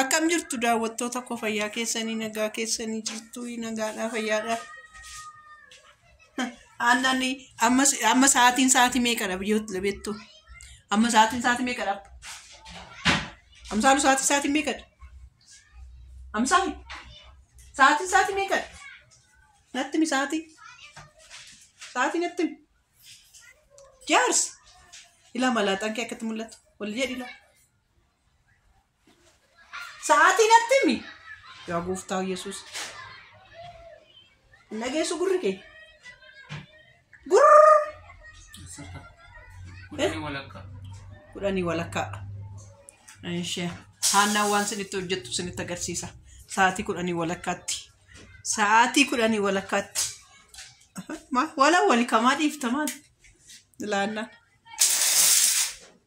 Akkam jirtu daawwattoota koo fayyaa keessanii nagaa keessanii jirtu nagaadhaa fayyaadhaa. Aannan amma amma sa'aatiin sa'aatii meeqadha biyyoota beektu? Amma sa'aatiin sa'aatii meeqadha? Amsaalu sa'aatiin sa'aatii meeqadha? Amsaalu sa'aatiin sa'aatii meeqadha? Natti mi sa'aatii? Sa'aatii natti mi? Jaarsi ilaa malaaxaan kee akkatti mul'atu wal jedhi ilaa. Sa'aatii natti himi. Yaa gooftaa Yesuus. Hin dhageessu gurri kee. Gurr. Kudhanii walakkaa. Kudhanii walakkaa. Ishee haannaan waan sinitti hojjettu sinitti agarsiisa. Sa'aatii kudhanii walakkaatti. Sa'aatii kudhanii walakkaatti. Wala walikamaa dhiiftamaan. Laannaan.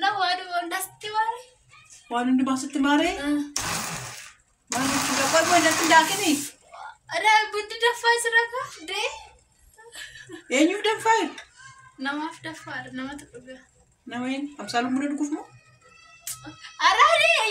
Na waadu wandasti waare. Waan hundi baasutti maaree. Waan hundi gabaa goon datti daakini. Ada bundi daffaa jira ka dee. Eenyuuf danfaa? Namaaf daffaa namatu dhuga. Nama hin amsaaluun buna dhuguuf moo? Araadee.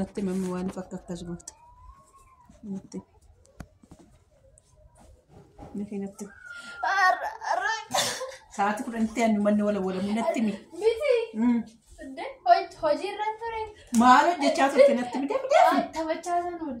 Natti mammi waan fakka akkas goota. Natti. Natti natti. Arra arra. Sa'aatii kudhanitti aannu manni wala walamu natti mi. Miti. Mm. Hojii irra ture. Maal hojjechaa turte natti mi deebi'e? Taphachaa san oole.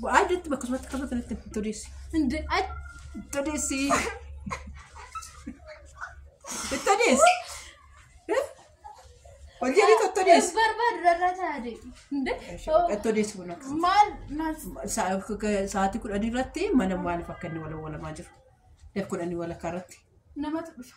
Bu'aa iddootti bakka sumatti qabatu nutti todeessi. Inde ay todeessi. Todeessi. Hojii ni todeessi. Barbaadu irraa taa'e. Inde Todeessi kun akka maal maal sa'aatii kudhan irratti mana maaliif akka inni wal walamaa jiru. Daf kudhanii walakkaa irratti. namatu dhufa.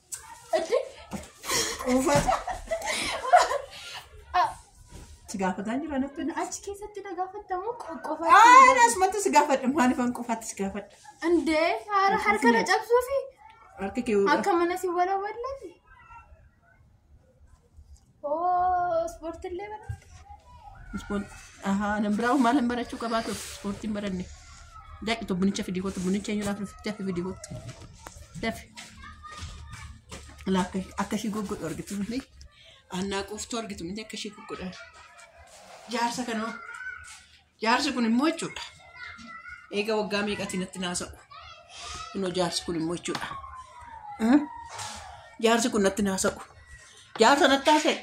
Si gaafataa jira natti. Achi keessatti na gaafattamu qofa. Aan asumatti si gaafadha maaliif an qofaatti si gaafadha. Indee haara harka na cabsuufi Harki kee akka mana si walawalan. Oo ispoortillee baratte. Ispoortii. Ahaa nan biraa maal hin barachuu qabaa ture ispoortii hin baranne. Daaqi to bunicha fidii kootu bunicha eenyu laafnu fidee fi fidii kootu. Dafi. Laakka akka ishii goggodhu argitu miti. Annaa quuftuu argitu miti akka ishii goggodhan. Jaarsa kanoo. Jaarsi kun immoo jechuudha. Eega waggaa meeqatii natti naasa'u. Kunoo jaarsi kun immoo jechuudha. Hmm? Jaarsi kun natti naasa'u. Jaarsa natti haasa'e.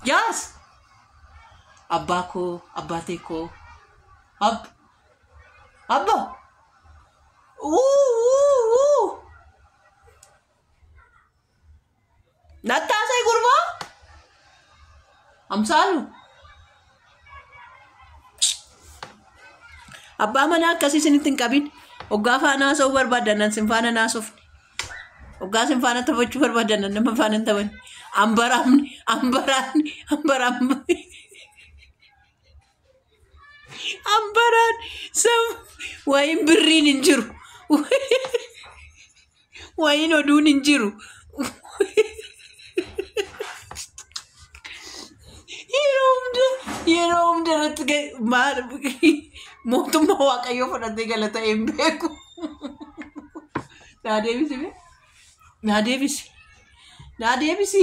Jaarsa! Abbaa koo, abbaa tee koo. Ab. Abba! Uu! Uu! Uu! Nattaasee gurbaa? Amsaalu? Abbaa manaa akkasii isinitti hin qabin. Oggaa faana haasa'uu barbaadannan sin faana hin haasofne. Oggaa sin faana taphachuu barbaadannan nama faana hin taphanne. Ambaraamni, ambaraamni, ambaraamni. Ambaraan sam wayin birriin hin jiru. Wayin oduun hin jiru. Yeroo hunda yeroo hunda irratti ga- maal mootummaa waaqayyoo fudhatee gala ta'e hin beeku. Naa deebisi mee? Naa deebisi. Naa deebisi.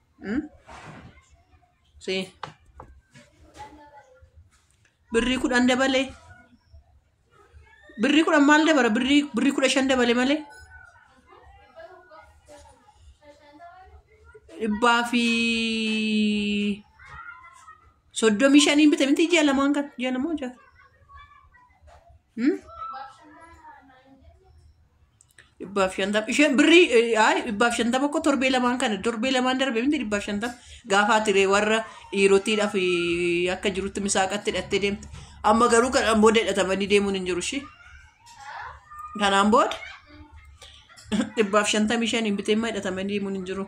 Hmm? Si. Birrii kudhan dabalee. Birrii kudhan maal dabala? Birrii birrii kudha shan dabale malee. Dhibbaa fi soddomii shaniin bite miti ji'a lamaan kan ji'a lamaa ja'a. Hmm? Dhibbaaf shantama. Isheen birrii eh, ay, dhibbaaf shantama koo torbee lamaan kana torbee lamaan darbe miti dhibbaaf shantama gaafa tiree warra dhiirotiidhaaf eh, akka jirutti misaaqatti hidhattee deemte. Amma garuu kanaan booda hidhatamanii deemuun hin jiru ishee. Kanaan booda dhibbaaf shantamii shaniin bitee immoo hidhatamanii deemuun hin jiru.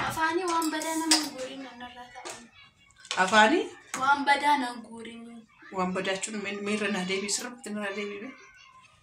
Afaanii waan badaa nama guuriin nanarraa ta'an. Afaanii Waan badaa nan guuriin. waan badaachuun miirra naa deebi'e sirriitti miirra deebi'e.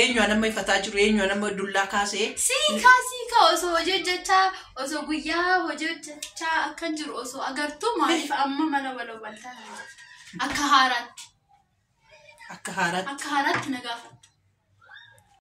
Eenyu anamma ifataa jiru eenyu anamma dullaa kaasee. Siikaa siikaa osoo hojii hojjechaa osoo guyyaa hojii hojjechaa akkan jiru osoo agartuu maaliif amma mana waloo baltaa hin jirtu? Akka haaraatti Akka haaraatti. akka haaraatti na gaafatta.